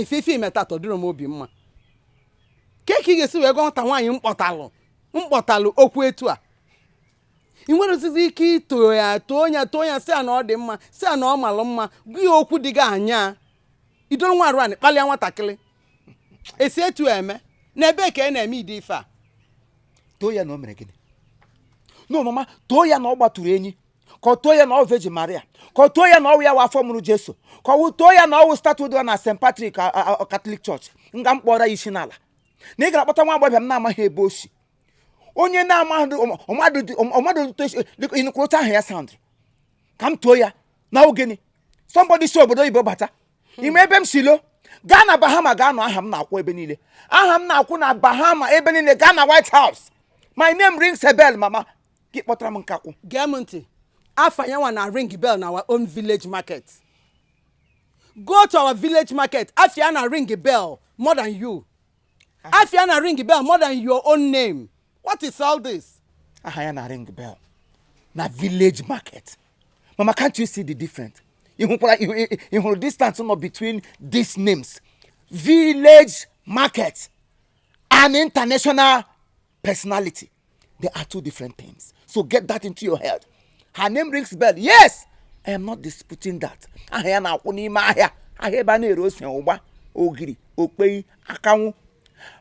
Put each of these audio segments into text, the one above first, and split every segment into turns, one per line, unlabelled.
ife ife i me taata ọ dịrọ m obi mma kee ka ị ga-esi wee gwa nwata nwaanyị m kpọtalụ m kpọtalụ okwu etu a ị nwerọzizi ike ito ya too ya too ya sị a na ọ dị mma sị a na ọ malụ mma gwa ya okwu dị gị anya i doro nwa arụ anị kpalịa nwatakịrị e si etu a eme na ebee ka a na-eme ụdị ife a too
ya na o mere gịnị no mama too ya na ọ gbaturu enyi ka ọ too ya na ọwụ virgin maria ka ọ too ya na ọwụ ya wụ afọ mụrụ jesu ka ọ too ya na ọwụ statue dị na st patrick catholic church nga m kpọrọ ya isi n'ala na ị gara kpọta nwa agbọghọ m na-amaghị ebe o si onye na-amaghị ọmadụ ị nụkwa otu aha ya sound ka m too ya na ogene somebody si obodo oyibo bata hmm. ị ma ebe m si lọ gaa na bahama gaa nụ aha m na-akwụ ebe niile aha m na-akwụ na bahama ebe niile gaa na white house my name rings a bell mama gị kpọtara m nkakwụ gee m
ntị afa ya nwa na ring bell na our own village market go to our village market afa ya na ring bell more than you afa ya na ring bell more than your own name what is all this aha ya na
ring bell na village market mama can't you see the difference ị hụkwara ị- ị- ị hụrụ distance nọ between these names village market and international personality They are two different things. So get that into your head. Her name rings bell. Yes, I am not disputing that. Aha ya na-akwụ n'ime ahịa. Ahịa ebe a na-ere ose, ụgba, ogiri, okpei, akanwụ.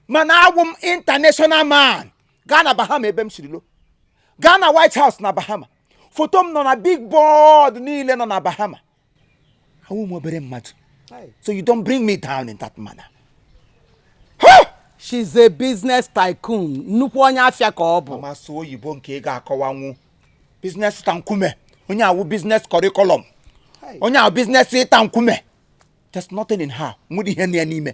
Mana awụ m international man. Gaa na Bahama ebe m siri lọ. Gaa na White House na Bahama. Foto m nọ na big board niile nọ na Bahama. awụ m obere mmadụ so you don't bring me down in that manner
she's a business tycoon nnukwu onye afịa ka ọ bụ mama sụọ oyibo nke
ị ga-akọwanwu business ịta nkume onye a wụ business curriculum onye a wụ business ịta nkume there's nothing in her nwere ihe nọ ya n'ime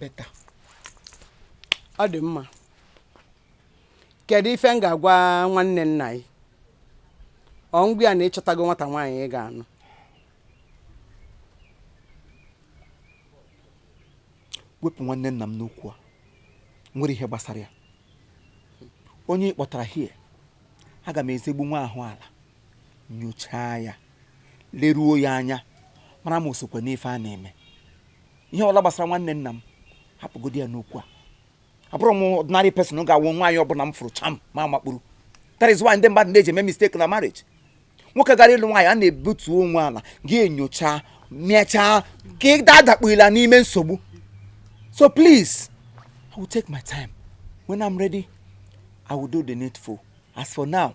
better ọ
dị mma kedu ife m ga-agwa nwanne nna yị ọ m gwa ya na ị chọtago nwata nwaanyị ị ga-anụ
wepụ nwanne nna m n'okwu a nwere ihe gbasara ya onye ị kpọtara here aga m ezigbo nwa ahụ ala nyochaa ya leruo ya anya mara ma o sokwa n'ife a na-eme ihe ọla gbasara nwanne nna m hapụgodi ya n'okwu a abụrọ m ordinary person ga-awụ nwaanyị ọbụla m fụrụ cham m amakpuru that is why ndị mmadụ na-eji eme mistake na marriage nwoke gara ịlụ nwaanyị a na-ebutu onwe ala gị enyocha mechaa ka ị dadakpughila n'ime nsogbu so please i will take my time when i'm ready i will do the needful as for now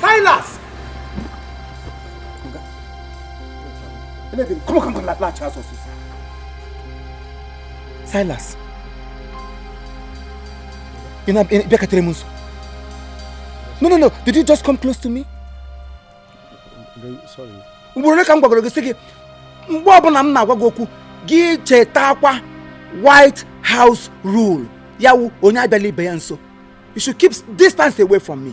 Silas! Anything, come on, come on, latch us. Silas. Ị na, ị bịaketere m nso. No, no, no. Did you just come close to
me? Sorry. Ugboro ole ka m gwagoro gị sị gị mgbe ọbụla m na-agwa gị okwu
gị chetakwa White House rule ya wụ onye abịala ibe ya nso. you should keep distance away from me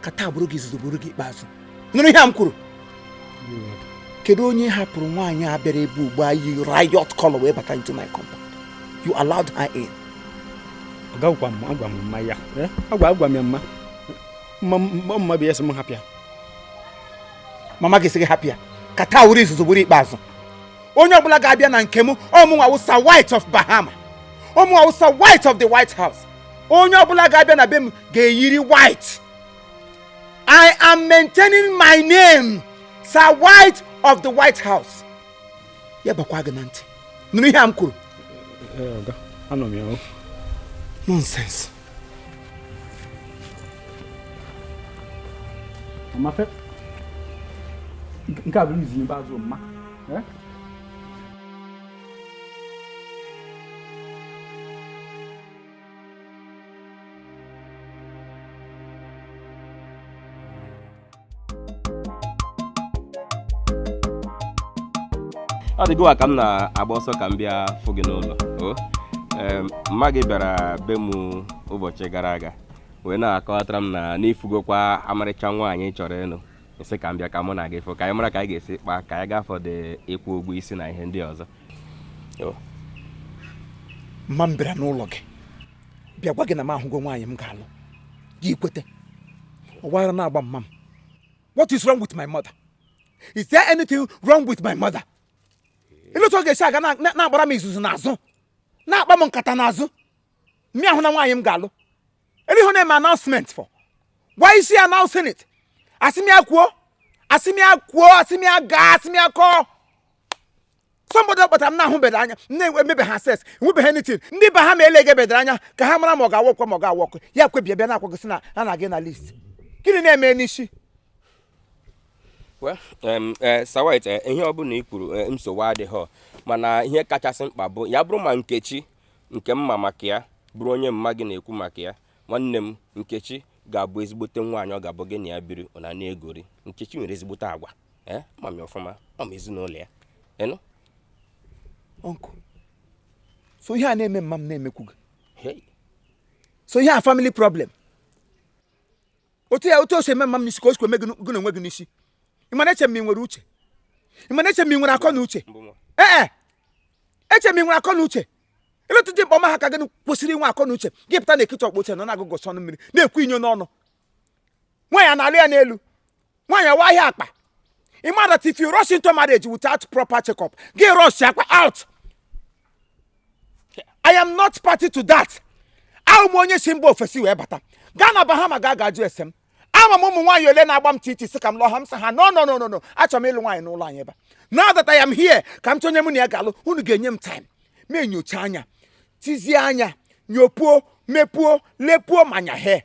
ka taa bụrụ gị izuzu bụrụ gị ikpeazụ nụrụ ihe a m kwuru kedu onye hapụrụ nwaanyị a bịara ebe ugbu a yi riot color wee bata into my compound you allowed her
in agwa m agwa m mma ya eh? agwa agwa m ya mma mma mma bụ ya sị m hapụ
ya mama gị sị gị hapụ ya ka taa wụrụ izuzu bụrụ ikpeazụ onye ọbụla ga-abịa na nke m ọmụnwa wụ sir white of bahama ọmụnwa wụ sir white of the white house onye ọbụla ga-abịa na be m ga-eyiri white i am maintaining my name sir white of the white house ya bakwa gị na ntị nụrụ ihe a m kwuru
eh, anụ m ya nonsense Mafe, nke a bụ izi n'ikpeazụ mma. Eh?
ọ dị gịwa ka m na-agba ọsọ ka m bịa fụ gị n'ụlọ o Em, mma gị bịara be m ụbọchị gara aga wee na-akọwatara m na na ị fụgokwa amarịcha nwaanyị ị chọrọ ịnụ m sị ka m bịa ka mụ na gị fụ ka anyị mara ka anyị ga-esi kpaa ka anyị gaa for the ịkwụ ụgwọ isi na ihe ndị ọzọ
mma m bịara n'ụlọ gị bịa gwa gị na m ahụgo nwaanyị m ga-alụ gị ekwete ọ wụ ara na-agba mma m what is wrong with my mother is there anything wrong with my mother elee etu ọ ga-esi aga na-agbara m izuzu n'azụ na-akpa m nkata n'azụ mụ ahụna nwaanyị m ga-alụ elee ihe ọ na-eme announcement for why is she announcing it asị m ya kwuo asị m ya kwuo asị m ya gaa asị m ya kọọ somebody kpatara m na-ahụbeghị anya m na-emebeghị assess enwebeghị anything ndị be ha ma elege bedara anya ka ha mara ma ọ ga-awork kwa ma ọ ga-awork ya kwebie bịa na-agwa gị sị na a na-aga na list gịnị na-eme n'isi Well,
um, eh, Sir White, eh, ihe ọ bụla i kwuru eh, nsogbu adịghị mana ihe kachasị mkpa bụ ya bụrụ ma Nkechi nke m ma maka ya bụrụ onye mma gị na-ekwu maka ya nwanne m Nkechi ga-abụ ezigbote nwaanyị ọ ga-abụ gị na ya biri ụnụ ana-egori Nkechi nwere ezigbote agwa ee ma m ọfụma ọ ma ezinụlọ ya ị
nụ uncle so ihe a na-eme mma m na-emekwu gị so ihe a family problem otu ya otu o si eme mma m n'isi ka o sikwa eme gị na onwe gị n'isi ị ma na eche m ị nwere uche ị ma na eche m ị nwere akọ na uche ee e, eche m ị nwere akọ na uche ebe otu dimkpa ọma ha ka gị kwesịrị inwe akọ na uche gị pụta na ekiti ọkpụ uche nọ na-agụgụ ọnụ mmiri na-ekwu inyo n'ọnụ nwaanyị a na-alụ ya n'elu nwaanyị awa ahịa akpa ị ma that if you rush into marriage without proper check-up gị rushakwa out i am not party to that awụ m onye si mba ofesi wee bata gaa na bahama gaa ga jụọ ese m ama m ụmụ nwaanyị ole na-agba m titi sị ka m lụọ ha m sị ha no no no no no achọrọ m ịlụ nwaanyị n'ụlọ anyị ebe a. now that i am here ka m chọọ onye mụ na ya ga-alụ unu ga-enye m time m enyochaa anya tizie anya nyopuo mepuo lepuo manya he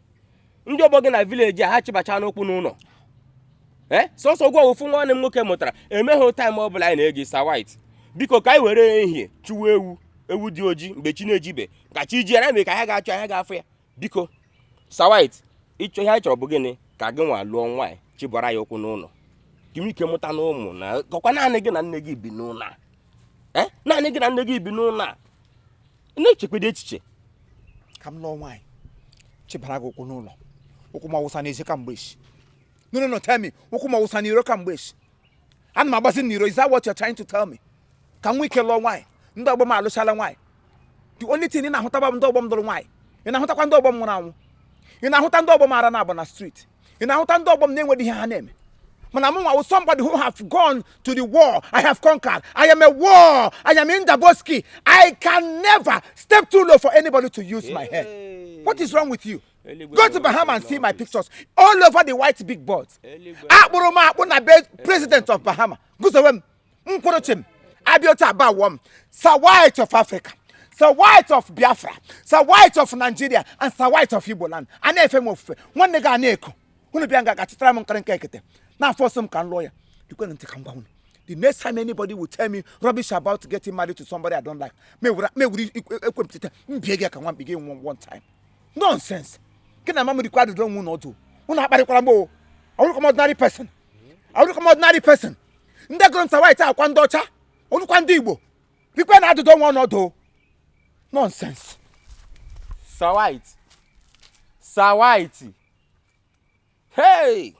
ndị ọgbọ gị na village a ha chịbachana ụkwụ n'ụlọ ee sọsọ gị wụ ofu nwa nwanne m nwoke mụtara enweghị time ọ bụla anyị na-enye gị sir white biko ka anyị were ehihie chụwa ewu dị oji mgbe chi na-ejibe ka chi jie mere ka anyị ga-achọ anyị ga-afụ ya biko sir white ịchọ ihe anyị chọrọ bụ gịnị ka gị nwa lụọ nwaanyị chịbara ya ụkwụ n'ụlọ ka i nwee ike mụta na ụmụ na ọkwa naanị gị na nne gị bi n'ụlọ a ee naanị gị na nne gị bi n'ụlọ a na-echekwadị echiche ka
m lụọ nwaanyị chịbara gị ụkwụ n'ụlọ ụkwụ m awụsa n'ezi kamgbe echi no no no tell me ụkwụ m awụsa n'iro kamgbe echi ana m agbazi n'iro is that what you're trying to tell me ka m nwee ike lụọ nwaanyị ndị ọgbọ m alụchala nwaanyị the only thing ị na-ahụta bụ ndị ọgbọ m lụrụ nwaanyị ị na-ahụtakwa ndị ọgbọ m nwụrụ anwụ ị na-ahụta ndị ọgbọ m ara na-agba na street ị na-ahụta ndị ọgbọ m na-enweghị ihe ha na-eme but mụ nwa wụ somebody who have gone to the war i have conquered i am a war i am indaboski i can never step too low for anybody to use my head what is wrong with you go to bahama and see my pictures all over the white big boards a kpụrụ m akpụ na be president of bahama guzowe m Nkorochim, Abiota Abawom, Sir White of Africa, Sir White of Biafra, Sir White of Nigeria, and Sir White of Igbo land. A na-efe m ofufe, nwanne gị a na-eko. Unu bịa nga ga-achịtara m nkịrịka ekete. Na-aforce m ka m lụọ ya. Geekwanụ ntị ka m gwa unu. The next time anybody will tell me rubbish about getting married to somebody I don't like, m ewere m ewere ekwempụta mbie gị ka nwa mbi gị nwa one time. Nonsense. Gị na mama dịkwa adụdọ onwe unu ọdụ. Unu akparịkwara m o. Awụrọkwa m ordinary person. awụrọkwa m ordinary person ndị gụrụ m sir white wụkwa ndị ọcha ọ wụrọkwa ndị igbo bikwe na-adụdọ onwe unu ọdụ nonsense sir
white sir white hei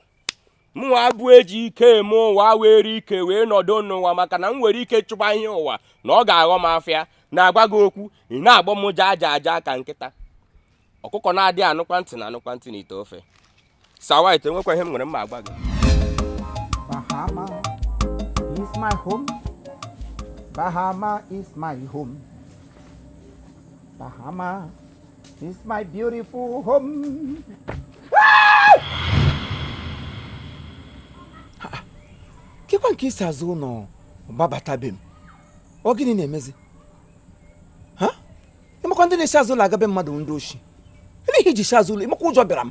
mụnwa bụ eji ike eme ụwa were ike wee nọdụ n'ụwa maka na m nwere ike chụba ihe ụwa na ọ ga-aghọ m afịa na-agwa gị okwu ị na-agbọ m jaa aja aja ka nkịta ọkụkọ na-adị anụkwa ntị na-anụkwa ntị n'ite ofe Sir White enwekwa ihe m nwere mma agwa
gị Bahama is my home. Bahama is my home. Bahama is my beautiful
home. kekwa nke i si azụ ụlọ gbabata be m ọ gịnị na-emezi ịmakwa ndị na-esi azụ ụlọ aga be mmadụ ndị oshi ele ihe i ji si azụ ụlọ ịmakwa ụjọ bịara m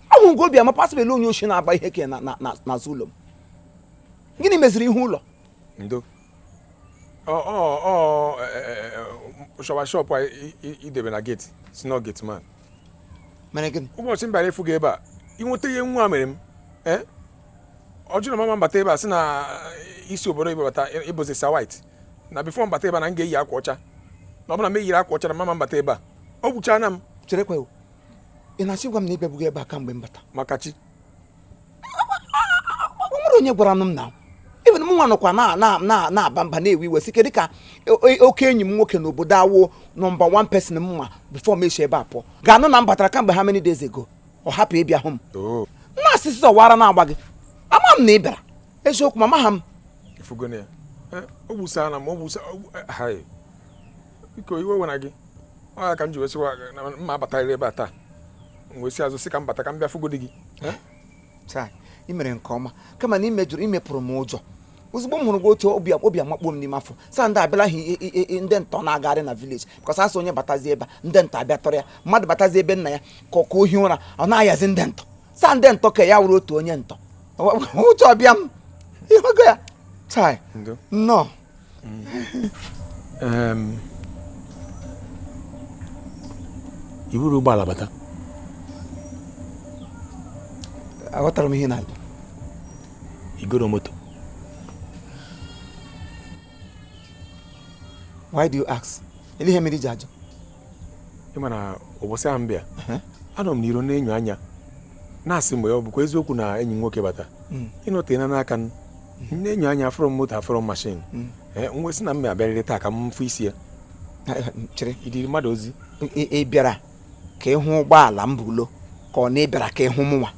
ahụrụ gị obi ama pasịbel onye oshi na-agba ihe ke n'azụ ụlọ m gịnị meziri ihu ụlọ ndo
shọwa shọpụ idebe na gate sị na gate
man ụbọchị m bịara ịfụ gị ebe a
inweta ihe nwa mere m eh? ọ jụrụ m ama abata ebe a sị na i si obodo oyibo bata ịbụzi Sir White na before m bata ebe a na m ga-eyi akwa ọcha na ọ bụ na m eyiri akwa ọcha na m ama abata ebe a o gbuchana m cherekwa o
ị na-asị gwa m na ị bịabugo ebe a kamgbe m bata maka chi o nwere onye gwara m na even mụnwa nọkwa na- na- na- na-aba mba na-ewe iwe sị kedụ ka o- o- oke enyi m nwoke n'obodo a wụ number one person m nwa before m esi ebe a pụọ ga-anụ na m batara kamgbe how many days ago ọ hapụ ịbịa hụ m oh. nna asịsị ọwara na-agba gị ama m na ị bịara eziokwu ma amaha m
ịfụgone ya o gbusana m o gbusana eh, biko iwe wena gị ọ ya ka m ji wee sịwa na m ma abatarịrị ebe a taa m wee si azụ sị ka m bata ka m bịa fụgodi gị
chai ị mere nke ọma kama na imepụrụ m ụjọ ozugbo m hụrụ gị otu obi amakpuo m n'ime afọ sị ndị a abịala ha ndị ntọ na-agagharị na village because asị onye batazi ebe ndị ntọ abịa tọrọ ya mmadụ batazi ebe nna ya ka o hi ụra ọ na-ayazi ndị ntọ sị ndị ntọ ka ya wụrụ otu onye ntọ ụjọ abịa m ịhụgo ya chai
nnọọ iburu ụgbọala bata
aghọtara m ihe ị na-ajụ
igoro
moto why do you ask ele ihe mere iji ajụ ị ma
na ụbọchị ahụ m bịa anọ m n'iro na-enyo anya na-asị ma ọ bụkwa eziokwu na enyi m nwoke bata Mm. ịnọte na n'aka m na-enyo anya afụrọ m moto afụrọ m mashin Mm. ee m wee sị na m ma abịarịrị taa ka m fụ isi ya chere
idiri mmadụ ozi
ị ị bịara
ka ịhụ ụgbọala m bulọ ka ọ na ị bịara ka ịhụ mụnwa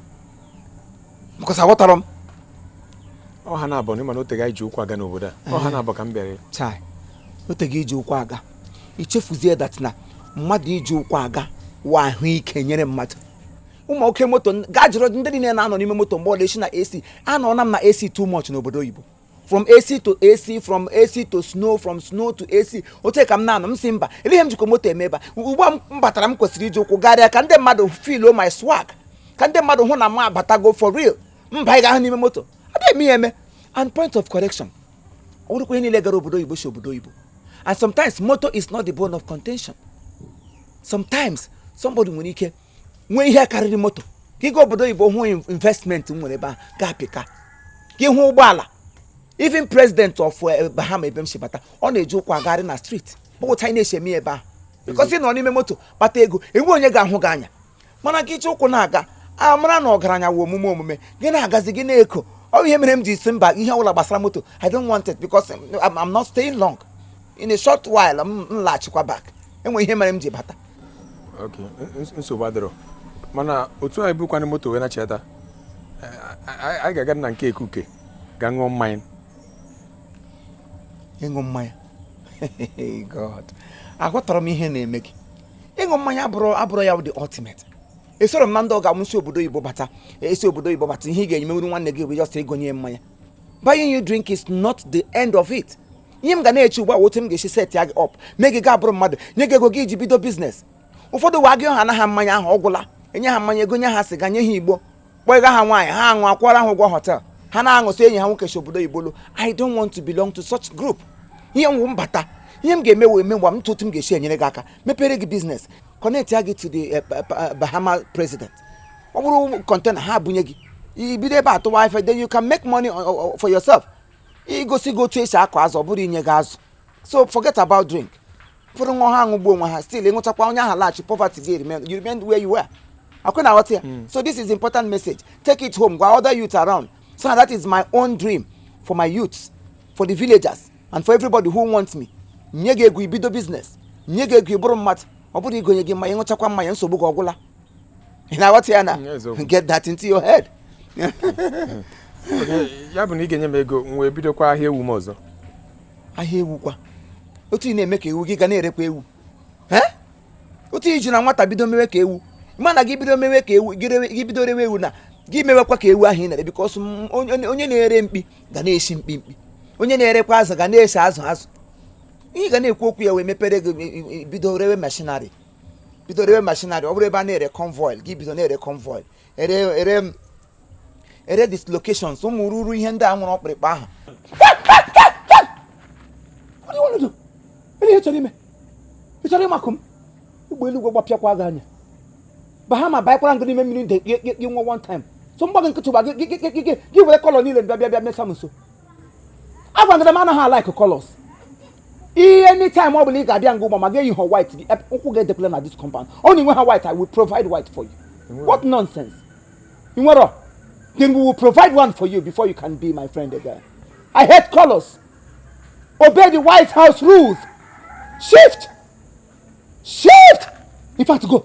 because aghọtara
m ọ ha naabọ na ịma na oteghị anyị ji ụkwụ aga n'obodo a ọ ha naabọ ka m bịara chai
oteghị iji ụkwụ aga ichefuzie that na mmadụ iji ụkwụ aga wụ ahụike nyere mmadụ ụmụ oke moto gaa jụrụ ndị niile na-anọ n'ime moto mgbe ọla esi na AC anọna m na AC too much n'obodo oyibo from AC to AC from AC to snow from snow to AC otu a ka m na-anọ m sị mba ele ihe m jikọ moto eme ebe ugbu a m batara m kwesịrị iji ụkwụ garịa ka ndị mmadụ filo my swag ka ndị mmadụ hụ na m abatago for real mba ị ga-ahụ n'ime moto adịghị m ihe eme and point of correction ọ bụrọkwa onye niile gara obodo oyibo si obodo oyibo and sometimes moto is not the bone of contention sometimes somebody nwere ike nwee ihe karịrị moto ka ịga obodo oyibo hụ investment nwere ebe a ga-apịka ka ịhụ ụgbọala even president of eh, bahama ebe m si bata ọ na-eji ụkwụ agagharị na street ọ bụ otu a anyị na-esi eme ebe ahụ because ị nọ n'ime moto kpata ego enwe onye ga-ahụ gị anya mana gị iji ụkwụ na-aga a mara na ọgaranya wụ omume omume gị na-agazi gị na-eko ọ ihe mere m ji sị mba ihe ọbụla gbasara moto i don't want it because I'm not staying long in a short while m m laghachikwa back e nwere ihe mere m ji bata
ok ns- nsogbu adịrọ mana otu anyị bụkwana moto wee nachata anyị ga-aga na nke ekuke ga ṅụọ mmanya
ịṅụ mmanya god aghọtara m ihe na-eme gị ịṅụ mmanya abụrọ abụrọ ya bụ the ultimate esoro m na ndị ọ ga-awụ si obodo oyibo bata esi obodo oyibo bata ihe ị ga-emenwuru nwanne gị bụ just igonye ya mmanya buying you drink is not the end of it ihe m ga na-eche ugbu a otu m ga-esi setia gị up mee gị ga-abụrụ mmadụ nye gị ego gị iji bido biznes ụfọdụ wa gị ha anaghị mmanya ahụ ọ gwụla enye ha mmanya egonye ha sịga nye ha igbo kpọnye ha nwaanyị ha aṅụ akwụọra ha ụgwọ hotel ha na-aṅụ sị enyi ha nwoke si obodo oyibo lọ i don't want to belong to such group ihe m wụ m bata ihe m ga-eme wee megwa m otu m ga-esi enyere gị aka mepere gị biznes connectia gị to the eh, pa- pa- bahama president ọ bụrụ kọntena ha ebunye gị i bido ebe a tụwa ife then you can make money uh, uh, for yourself igosi gị otu esi akụ azụ ọ bụrọ inye gị azụ so forget about drink ụfọdụ nwa ha aṅụgbuo onwe ha still ịṅụchakwa onye ahụ laghachi poverty gị remain you remain where you were ọkwa ị na-aghọta ya hmm. so this is important message take it home gwa other youth around so that is my own dream for my youths for the villagers and for everybody who wants me nye gị ego ibido business nye gị ego ịbụrụ mmadụ ọ bụrọ igonye gị mmanya ịṅụchakwa mmanya nsogbu gị ọ gwụla ị na-aghọta ya na get that into your
head ya bụ na ị ga-enye m ego m wee bidokwa ahịa ewu m ọzọ ahịa
ewu kwa otu ị na-eme ka ewu gị ga na-erekwa ewu otu i ji na nwata bido mewe ka ewu mana gị bido mewe ka ewu gị bido rewe ewu na gị mewekwa ka ewu ahụ ị na-ere because onye na-ere mkpi ga na-esi mkpi mkpi onye na-erekwa azụ ga na-esi azụ azụ ihe ị ga na-ekwu okwu ya wee mepere gị bido rewe machinery bido rewe machinery ọ bụrụ ebe a na-ere convoil gị bido na-ere convoil ere ere ere dislocations ụmụ ruru ihe ndị nwere ọkpụrịkpa ahụ ele ihe ị chọrọ ime ị chọrọ ịmakụ m egbe eluigwe gbapịakwa gị anya bahama banyekwara gị n'ime mmiri nde kpie kpie nwa one time so m gba gị nkịtị gba gị were kọlọ niile bịa bịa bịa mesa m nso agwagara m anaghị a-like colors ihe anytime ọ bụla ị ga-abịa nga ugbu a ma gị eyihụ white gị ụkwụ gị edekwala na this compound ọ na i nwehụ white i will provide white for you what nonsense ị nwere then we will provide one for you before you can be my friend again i hate colors obey the white house rules shift shift in fact go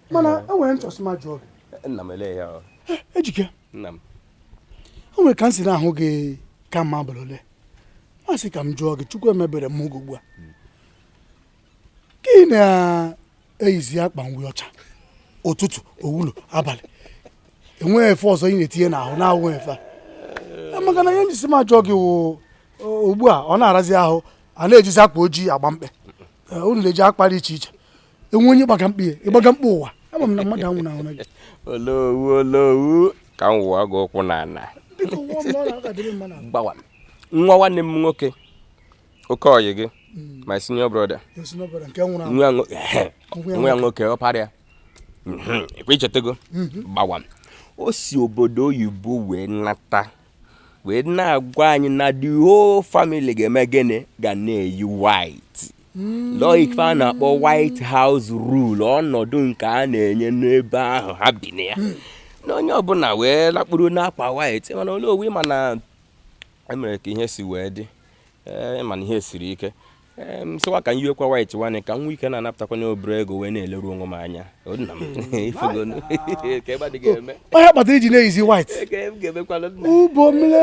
mana e nwere m
chọsị m ajụ gị nna m elee
ya e, ejike
nna
m o nwere
ka m si na-ahụ gị kamgbe abalị ole m sị ka m jụọ gị chukwu emebere m oge ugbu a gị na-eyizi akwa uwe ọcha ụtụtụ wee luo abalị enweghị efe ọzọ ị na-etinye n'ahụ na-awụghị efe a maka na ihe m jisi m ajụ gị wụ ugbu a ọ na-arazi ahụ a na-ejizi akwa ojii agba mkpe unu na-eji akwa dị iche iche e nwe onye gbaga mkpe ya ị gbaga mkpe ụwa ama m na mmadụ anwụnahụ gị olowu
olowu ka m wụọ gị ụkwụ n'ala biko nwa m na ọ na-agadịrị mma na gbawa nwa nwanne m nwoke oke ọyị gị my senior brother yosi n'ọbara nke nwụrụ anwụ nwa nwo- nwa ya nwoke ọpara ya Mhm, ekwe i chetago gbawa o si obodo oyibo wee nata wee na-agwa anyị na the whole family ga-eme gịnị ga na-eyi white hmm. lọọ ife a na-akpọ white house rule ọnọdụ nke a na-enye n'ebe ahụ ha bi na ya hmm. na onye ọbụla wee lakpuru n'akwa white mana olowu ị ma na e mere ka ihe si wee dị ị ma na ihe siri ike m sịkwa ka m yiwekwa white nwanne ka m nwee ike na-anapụtakwanụ obere ego wee na-eleru onwe m anya O, nna m ị fụgonụ ka ebe adị
ga-eme ọ ya kpatara i ji na-eyizi white Ka m ga-emekwala nna
ubomle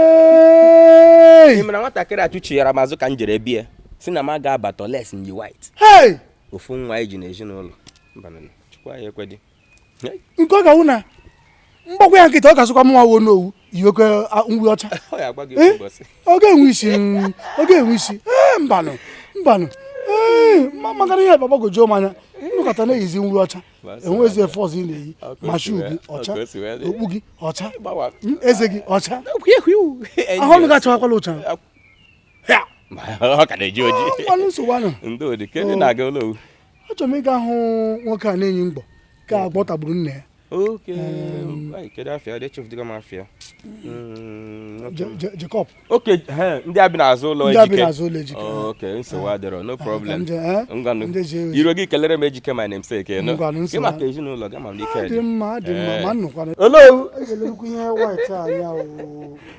ị mara nwatakịrị a chụchighara m azụ ka m jere be ya sị na m aga abata unless m yi white hey ofu nwa anyị ji n'ezinụlọ mbanụ chukwu anyị ekwedị nke
ọ ga-awụ na m gbakwaa ya nkịtị ọ ga-asịkwa mụnwa wụ olowu yiwekwe uwe ọcha ọ ga-enwe isi ọ ga-enwe isi mbanụ mbanụ maka na ihe gbagwojuo m anya ị nọkata na-eyizi uwe ọcha enwezi efe ọzọ ị na-eyi ma shoe gị ọcha okpu gị ọcha eze gị ọcha ahụ ọnụ gị achawakwala ọcha ọ ka na-eji oji na-aga olowu achọrọ m ịga ahụ nwoke a na-enyi mgbọ ka agwọ tagburu nna ya Jacob
okay ndị a bi n'azụ ụlọ ejike okay nsogbu adịrọ no problem ngwanụ i ruo gị kelere m ejike my namesake gị maka ezinụlọ gị ma m n'ike dị mma dị mma ma
nnụkwana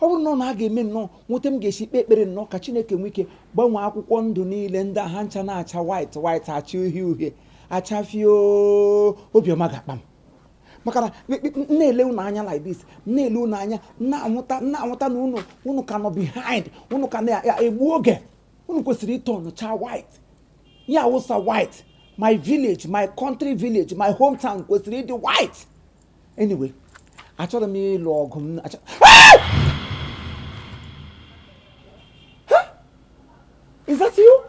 ọ bụrụ na ọ na a ga-eme nnọọ nwee otu m ga-esi kpee ekpere nnọọ ka chineke nwee ike gbanwee akwụkwọ ndụ niile ndị a ha ncha na-acha white white acha uhie uhie acha fio obi ọma ga-akpa m maka na m- m- m na-ele unu anya like this m na-ele unu anya m na-anwụta m na-anwụta na unu unu ka nọ behind unu ka na-egbu oge unu kwesịrị ịtọnụcha white ya wụ Sir White my village my country village my hometown kwesịrị ịdị white anyway achọrọ m ịlụ ọgụ m Is that you?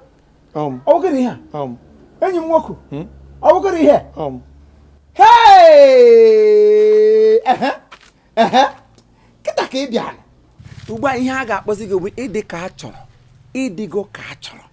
Um. Ọ bụ gị dị ihe a? Um. Enyi m nwoke. Hmm? Ọ bụ gị dị ihe? Um. Hey! Ehe! Ehe! Kịta ka ị bịara. Ugbu a ihe a ga-akpọzi gị bụ ị dị ka a chọrọ. Ị dịgo ka a chọrọ.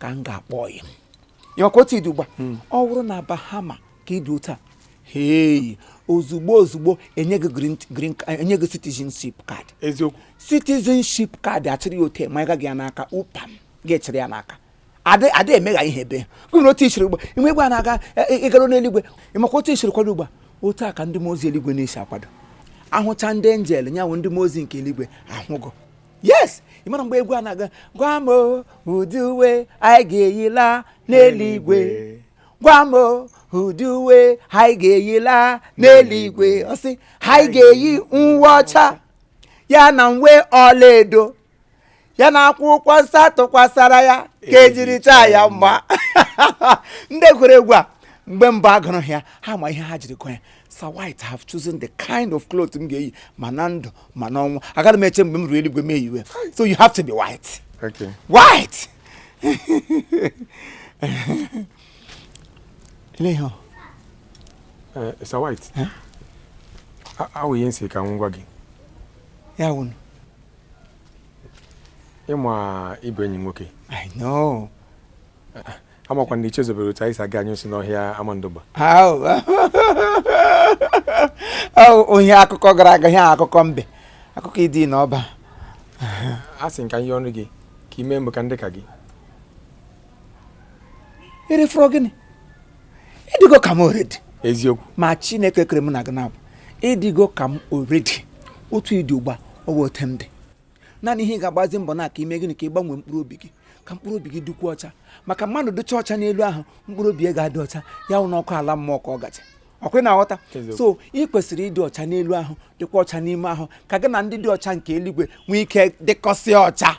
ka m ga-akpọ gị maka otu ị dị ugbu a hmm. ọ bụrụ na Bahama ka ị dị otu a hei ozugbo ozugbo e nye gị green green e nye gị citizenship card eziokwu citizenship card a chịrị ya otu a manye gị ya n'aka pam gị achịrị ya n'aka ada emegha ihe ebe kwuru otu i siri ugbu a imegbe a na-aga ịgara e, e, n'eluigwe ị makwa otu i siri kwado ugbu a otu a ka ndị mmụọ ozi eluigwe na-esi akwado ahụcha ndị angel ya wụ ndị mmụọ ozi nke eluigwe ahụgo yes ị mara mgbe egwu a na-agụ gwa m ụdị uwe anyị ga-eyila n'eluigwe gwa m ụdị uwe anyị ga-eyila n'eluigwe ọ sị anyị ga-eyi uwe ọcha ya na uwe ọlaedo ya na akwụkwọ nsọ tụkwasara ya ka e jiri chọọ ya mma ndị kwere egwu a mgbe mbụ a gụrụ ya ha ma ihe ha jiri kọ ya Sir White have chosen the kind of cloth m ga-eyi ma na ndụ ma n'ọnwụ agaghị m eche mgbe m ruru eluigwe m eyiwe so you have to be white okay. white ele ihe
eh, Sir White eh? ọ wụ ihe m sị ka m gwa gị ya
wụ
na ị ma ị bụ enyi m nwoke I know amakwa m na i chezọberọ otu anyị si aga anyị si n'ọhịa
Amandụgba ihe akụkọ gara aga ihe akụkọ mbe akụkọ Iduu na Ọba
asị m ka m yọọ gị ka i mee mụ ka m dị ka
gị ị dịfọrọ gịnị ị dịgo ka m already eziokwu ma
chineke kere
m na gị na ị dịgo ka m already otu ị dị ugbu a ọ bụ otu m dị naanị ihe ị ga-agbazi mbọ na ka i mee gịnị ka ị gbanwee mkpụrụ obi gị ka mkpụrụ obi gị dịkwuo ọcha maka mmadụ dịcha ọcha n'elu ahụ mkpụrụ obi ya ga-adị ọcha ya wụ na ọkụ ala mmụọ ka ọ gacha ọ kwa ị na-aghọta so ị kwesịrị ịdị ọcha n'elu ahụ dịkwa ọcha n'ime ahụ ka gị na ndị dị ọcha nke eluigwe nwee ike dịkọsịa ọcha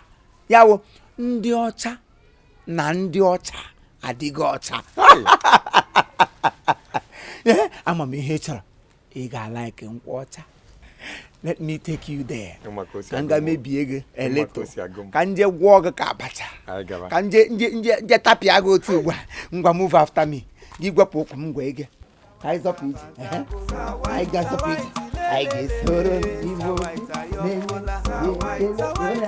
ya wụ ndị ọcha na ndị ọcha adịga ọcha ama m ihe ị chọrọ ị ga-alaiki nkwụ ọcha let me take you there ka m ga mebie gị a little ka m je gwọọ gị ka abacha ka m je tapịa gị otu ugbu a ngwa move after me gị gwepụ ụkwụ m gwa ege ka anyị zọpụ ije anyị ga-azọpụ ije anyị ga-esoro igbo na-enye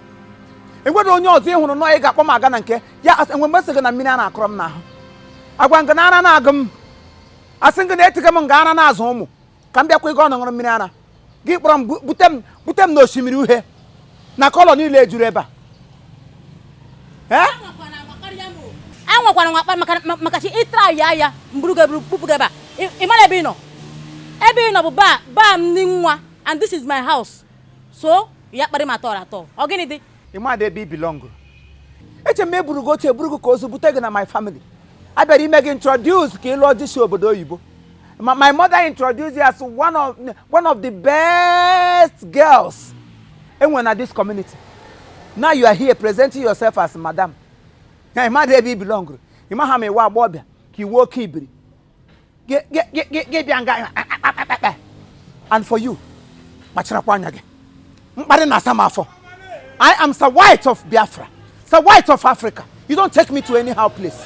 enwere onye ọzọ ị hụrụ nọọ ị ga-akpọ m aga na nke ya asị enwe mgbe m sị gị na mmiri ara akọrọ m n'ahụ agwa m gị na ara na-agụ m asị gị na etiga m nga ara na-azụ ụmụ ka m bịakwa ịga ọnụ ṅụrụ mmiri ara gị kpọrọ m bu- bute m bute m n'osimiri uhie na kọlọ niile ejuru ebe a
ee anwakwara nwa akpa maka ma- maka chi ị traịa ya mburu ga-eburu bupụ gị ebe a Ị- ị mara ebe ị nọ ebe ị nọ bụ be be m ndị nwa and this is my house so ya kparị m at all at all ọ gịnị dị ị madị ebe
i bilọngụrụ eche m eburu gị otu eburu gị ka ozu bute gị na my family a bịara ime gị introduce ka ị lụọ di si obodo oyibo Ma- my mother introduced you as one of, one of the best girls enwere na this community now you are here presenting yourself as madam na ị madị ebe i bilọngụrụ ị ma ha ma ị wụ agbọghọbịa ka ị wụ oke ibiri gị bịa nga akpakpakpakpa and for you kpacharakwa anya gị mkparị na-asa m afọ I am Sir White of Biafra Sir White of Africa you don't take me to anyhow place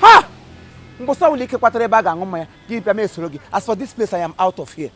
ha mbọsị ọwụla ị kwatara ebe a ga-aṅụ mmanya gị bịa m esoro gị as for this place I am out of here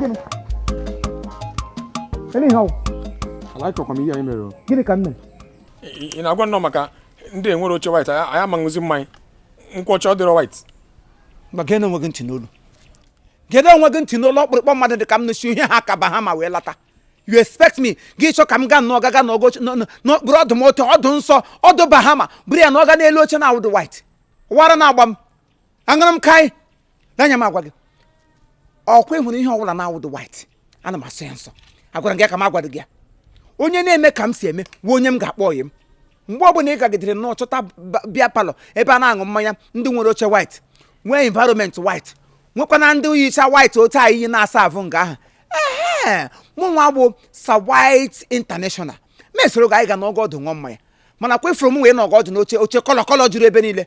gịnị gịnị ihe ọ wụ alaịkọkwa m ihe a i mere o. gịnị ka m mere ị ị na-agwanụ m maka ndị nwere oche white anyị ama ṅụzi mmanya nkwụ ọcha ọ dịrọ white ma geenụ onwe
gị ntị n'olu geenụ onwe gị ntị n'olu okpurukpu mmadụ dị ka m nwa si ihe ha ka bahama wee lata you expect me gị chọ ka m gaa nọga gaa nọgọ n'okpuru ọdụ m otu ọdụ nsọ ọdụ bahama buru ya nọga n'elu oche na-awụdụ white ọ wụ ara na-agba m aṅụrụ m kaị n'anya m agwa gị ọkwa ị hụrụ ihe ọbụla na-awụdụ white ana m asọ ya nsọ agwara m gị ya ka m agwadụ gị ya onye na-eme ka m si eme wụ onye m ga-akpọ ọyị m mgbe ọbụla ị gagidere nnọọ chọta ba- beer parlour ebe a na-aṅụ mmanya ndị nwere oche white nwee environment white nwekwana ndị yicha white otu a i yi na-asa avụ nga ahụ ehe mụ nwa bụ Sir White international m esoro gị anyị ga nọgọ ọdụ ṅụọ mmanya mana kwefuru m wee nọgọ ọdụ n'oche oche kọlọ kọlọ juru ebe niile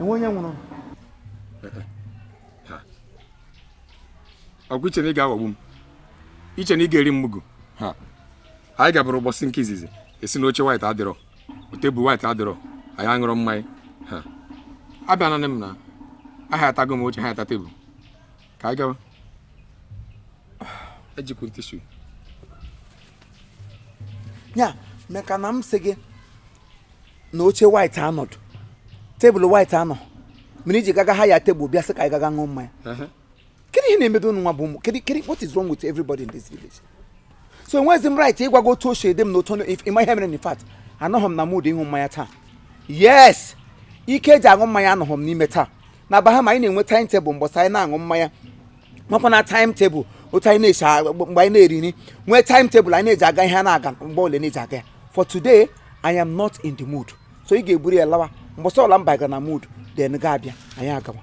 enwe onye
nwụrụ ọgwụ i che na ị ga-aghọgbu m i che na ị ga-eri m mugu anyị gaburu ụbọchị nke izizi ị sị na oche white adịrọ tebụl white adịrọ anyị aṅụrọ mmanya abịa nanị m na ahayatago m oche hayata tebụl ka anyị gawa ejikwu m tishu
ya meka na m sị gị na oche white anọdụ tebụl white anọ mere i ji gaga haya tebụl bịa sị ka anyị gaga ṅụọ mmanya kedu ihe na-emebe unu nwa bụ ụmụ kedu kedu what is wrong with everybody in this village so enweghịzi m right ịgwa gị otu o si adị m na otu ị ma ihe mere in fact anọghị m na mood ịṅụ mmanya taa yes ike eji aṅụ mmanya anọghị m n'ime taa na aba ha ma anyị na-enwe time table mbọsị anyị na-aṅụ mmanya makwa na time table otu anyị na-esi a- mgbe anyị na-eri nri nwee time table anyị na-eji aga ihe a na-aga mgbe ole na-eji aga ya for today i am not in the mood so ị ga-eburu ya lawa mbọsị ọla m bagara na mood then gị abịa anyị
agawa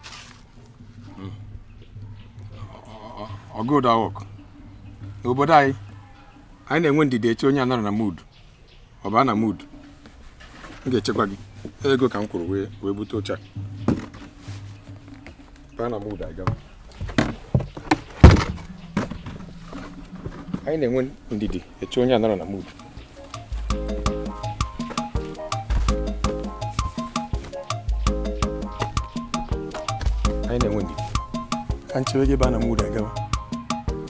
ọ good work obodo anyị anyị na-enwe ndidi eche onye anọrọ na mood ọ baa na mood m ga-echekwa gị ego ka m kwuru wee wee bute oche a baa na mood agaa anyị na-enwe ndidi eche onye anọrọ na mood anyị na-enwe ndidi ka m chewe gị baa na mood agawa